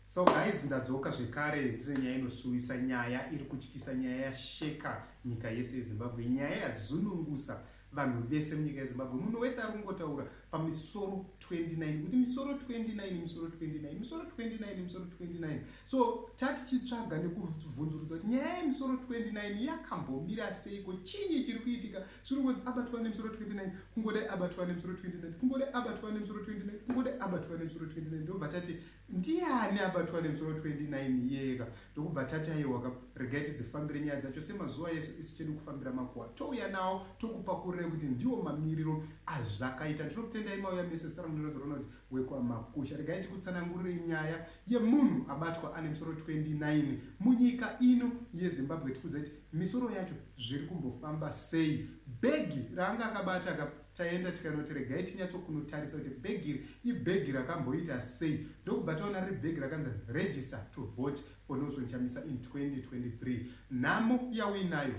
So guys ndadzoka zvekare tine nyaya inosuwisa nyaya iri kutyisa nyaya yasheka nyika yese yezimbabwe nyaya yazunungusa vanhu vese munyika yezimbabwe munhu wese ari kungotaura pamisoro 29 kuti misoro 29 misoro 29 misoro 29 misoro 29 so tati chitsvaga nekuvhunzurudza kuti nyaya yemisoro 29 yakambomira seiko chinyi chiri kuitika zviri kunzi abatwa nemusoro 29 kungodai abatwa nemusoro 29 kungodai abatwa nemusoro 29 kungodai abatwa nemusoro 29 ndokubva tati ndiani abatwa nemusoro 29 iyeka ndokubva tati aiwaka regai tidzifambire nyaya dzacho semazuva yesu isu chedu kufambira makuwa touya nawo tokupakurirei kuti ndiwo mamiriro azvakaita ndinokutendai mauya mese sara ndinozoona kuti wekwamakusha regai tikutsanangurire nyaya yemunhu abatwa ane musoro 29 munyika ino yezimbabwe tikudzai Misoro yacho zviri kumbofamba sei? Bhegi raanga akabata ka taenda tikanoti regai tinyatso kunotarisa kuti bhegi iri ibhegi rakamboita sei ndokubva taona riri bhegi rakanzi register to vote for Nelson Chamisa in 2023. Nhamo yauinayo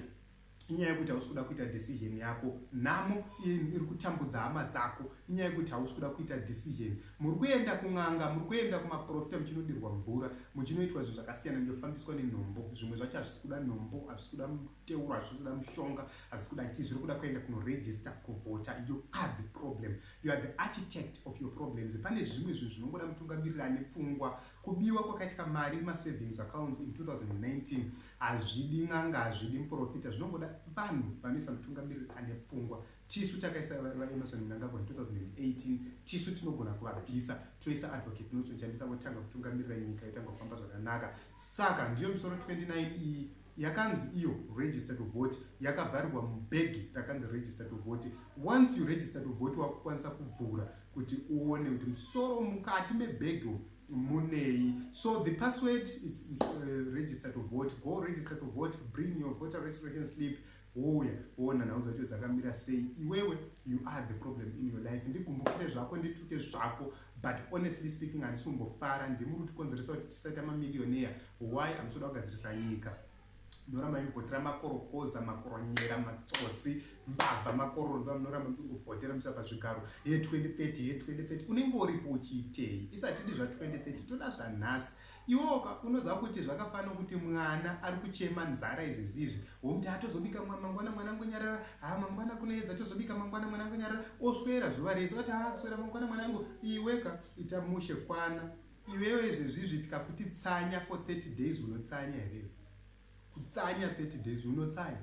inyaya yekuti hausi kuda kuita decision yako, nhamo iri kutambudza hama dzako. Inyaya yekuti hausi kuda kuita decision. Muri kuenda kun'anga, muri kuenda kumaporofita muchinodirwa mvura, muchinoitwa zvinhu zvakasiyana ndofambiswa nenhombo. Zvimwe zvacho hazvisi kuda nhombo, hazvisi kuda muteuro, hazvisi kuda mushonga, hazvisi kuda chii. Zviri kuda kuenda kunoregister kuvhota. You are the problem. You are the architect of your problems. Pane zvimwe zvinhu zvinongoda mutungamiriri ane pfungwa. Kubiwa kwakaitika mari mumasavings accounts in 2019 hazvidi n'anga, hazvidi muporofita. Zvinongoda vanhu vanoisa mutungamiriri ane pfungwa. Tisu takaisa vaEmmerson Mnangagwa in 2018 tisu tinogona kuvabvisa toisa Advocate Nelson Chamisa votanga kutungamirira nyika yotanga kufamba zvakanaka saka ndiyo misoro 29 iyi yakanzi iyo register to vote yakavharirwa mubhegi rakanzi register to vote once you register to vote wakukwanisa kuvhura kuti uone kuti musoro mukati mebhegi munei so the password is uh, register to vote go register to vote bring your voter registration slip wouya woona nhau dzacho dzakamira sei iwewe you are the problem in your life ndigumbukire zvako ndituke zvako but honestly speaking handisi kumbofara ndimi uri kutikonzeresa kuti tisaita mamilioneya why amusoda kugadzirisa nyika munoramba mivhotera makorokoza makoronyera matsotsi mbavha makororo ndiva munoramba mivhotera musa pazvigaro ye 2030 ye 2030 unenge uripo uchiitei isatidi zva 2030 toda zvanhasi Iwoka unoziva kuti zvakafanana kuti mwana ari kuchema nzara izvezvi izvi womuti haa tozobika mangwana mwana angonyarara haa mangwana kunoedza tozobika mangwana mwana angonyarara oswera zuva rese oti haa kuswera mangwana mwana angu iweka ita mushe kwana iwewe izvezvi izvi tikakuti tsanya for 30 days unotsanya here kutsanya 30 days unotsanya